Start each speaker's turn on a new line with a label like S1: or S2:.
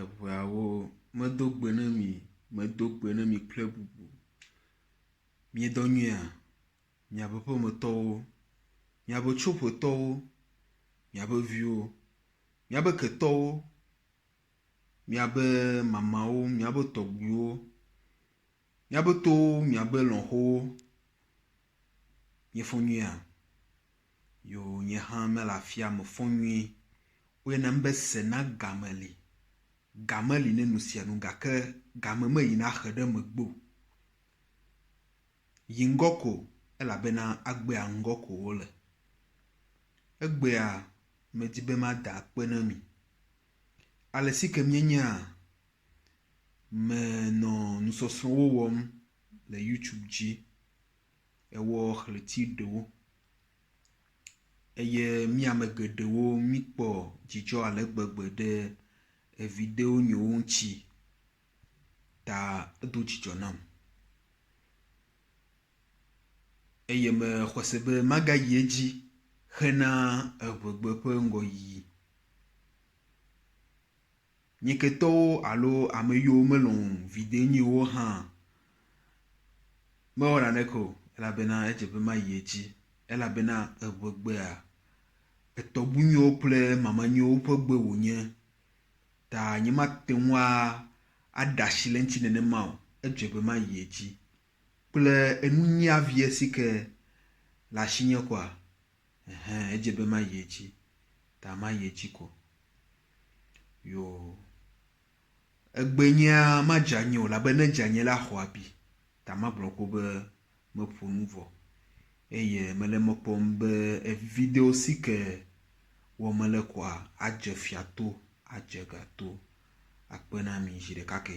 S1: Eŋeawo medo gbe na mi, medo gbe na mi kple bubu. Miedɔ nyuia? Miaƒe ƒometɔwo, miaƒe tsoƒotɔwo, miaƒe viwo, miaƒe ketɔwo, miaƒe mamawo, miaƒe tɔgbuiwo, Míabe towo, míabe lɔ̃xowo míefɔ nyuie hã. Yo nye hã mele afia mefɔ nyuie. Woyɔna nu be sena game li. Game li ne nu sia nu gake game meyina axe ɖe megbe o. Yi ŋgɔ ko elabena agbea ŋgɔ ko wole. Egbea medi be mada akpe na mi. Ale si ke míenyea Me nɔ nusɔsrɔ̃wo wɔm le youtube dzi ewɔ ɣleti ɖewo eye mí ame geɖewo míkpɔ dzidzɔ ale gbegbe ɖe evideo nyiwo ŋutsi ta edo dzidzɔ nam eye mexɔse be magayi edzi hena eŋegbe ƒe ŋgɔyiyi. Nyeketɔwo alo ame yiwo melɔ̃ viɖenyiwo hã mewɔ naneke o, elabena edze be mayi edzi, elabena eŋegbea etɔgbunyuiwo kple mamanyuiwo ƒe gbe wònye, ta nyemate ŋu aɖe asi le eŋuti nenema o, edze be mayi edzi. Kple enunyia vie si ke le asinye koa, Ɛhɛ̃, edze be mayi edzi, ta mayi edzi ko. Yoo, egbe nyea, madze anyi o, elabe ne edze anyi la, axɔ abi, ta magblɔ ƒo be meƒo nu vɔ. Eye mele eme kpɔm be evividewo si ke wɔm mele koa, adze fia to, adze ga to. Akpe na mi zi ɖeka ke.